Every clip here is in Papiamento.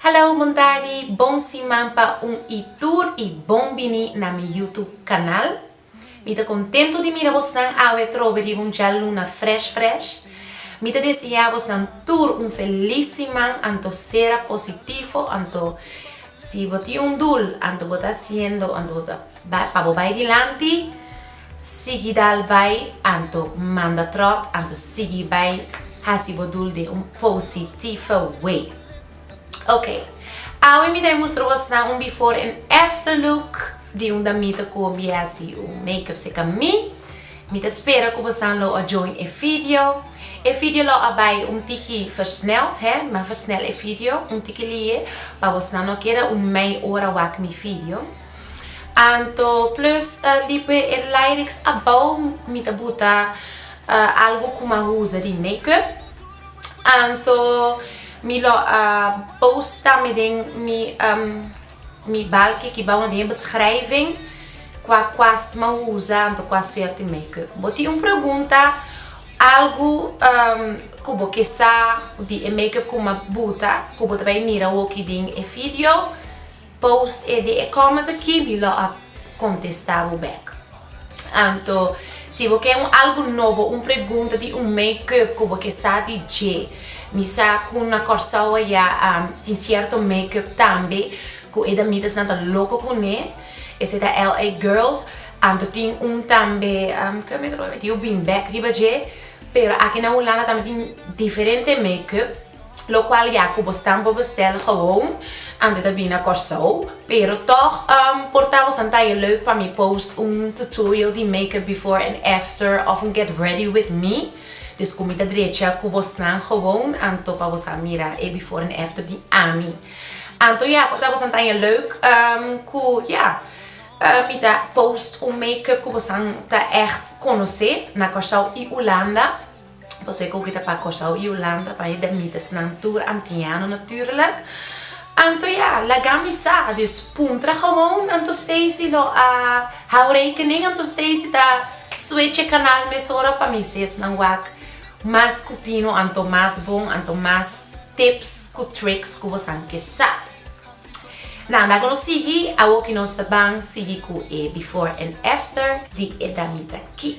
Hallo Mundari, bon siman pa un i tur i bon bini na mi YouTube kanal. Mi ta kontentu di mira bosnan awe trobe riba un djaluna fresh fresh. Mi ta deseá bosnan tur un felis siman anto sera positifo anto si bo tin un dul anto bo ta hasiendo anto bo ta bai pa bo bai dilanti. Sigui dal bai anto manda trot anto sigui bai hasi bo dul de un positifa way ok awe mi ta e mustra bos nan un before en after look di un damita cu mi hasi un makeup seca mi mi ta spera cu bosnan lo a join e video e video lo a bai un tiki versneld he mi a versnel e video un tiki lie pa bosnan no keda un mei ora wak mi video. Anto plus di p'e e lyrics abou mi ta buta algu ku m'a usa di makeup. Anto mi lo a post tambe den mi mi balki ki bou na den e beschrijving kua kwast m'a usa anto kua suerte makeup. Bo tin un pregunta algu ku bo ke sa di e makeup ku m'a buta ku bo ta bai mira hoki den e video? Post e di e comment aki mi lo a contesta bo bek. Anto si bo ke un algo nobo, un pregunta di un make up cu bo ke sa di dje. Mi sa cu na Corsou aya tin cierto make up tambe cu e damitas nan ta loco cune. Esey ta LA Girls. Anto tin un tambe cu make up a metido beanbag riba dje. Pero aki na Hulanda tambe tin diferente make up. locual ya cu bos tambo bestel gewoon antes ta bini na Corsou pero toch por ta bos an taie leuk pa mi post un tutorial di makeup before and after of un get ready with me dus cu mi ta drecha cu bosnan gewoon anto pa bos a mira e before and after di ami anto ya por ta bos an taie leuk cu ya mi ta post un makeup cu bosan ta echt conoce na Corsou y Hulanda. Pasobra e koki ta pa Kòrsou i Hulanda, pa e Damitasnan tur antiano natùrlik. Anto ya, laga mi sa. Dus puntra gewoon anto Stacey lo a hou rekening. Anto Stacey ta switch e kanal mesora pa mi si esnan wak mas ku tino anto mas bon, anto mas tips ku tricks ku bosan ke sa. Nan, laga nos sigui. Awoki nos ta ban sigui ku e before and after di e damita ki.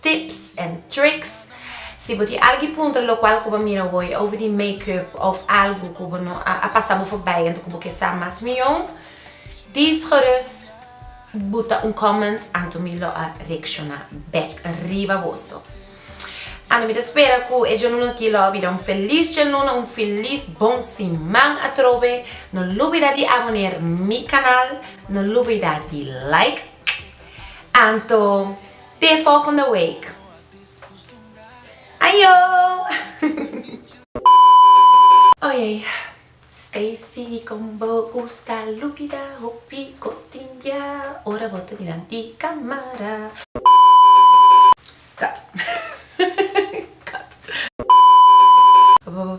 Tips en tricks Si bo tin algi puntra lokual ku bo a mira hoy over di makeup of algu ku bo no a pasa bo forbay anto ku bo ke sa mas mihó dis gerus buta un comment anto mi lo a reakshona bek riba boso. Anto mi ta spera ku e djaluna aki lo a bira un felis djaluna un filis bon siman atrobe no lubida di aboner mi kanal no lubida di like anto. Te volgende week. Ajo! Oye Stacy con bo gusta lupida hopi cos tin bia ora bo ta miran di camara. Cut cut bo.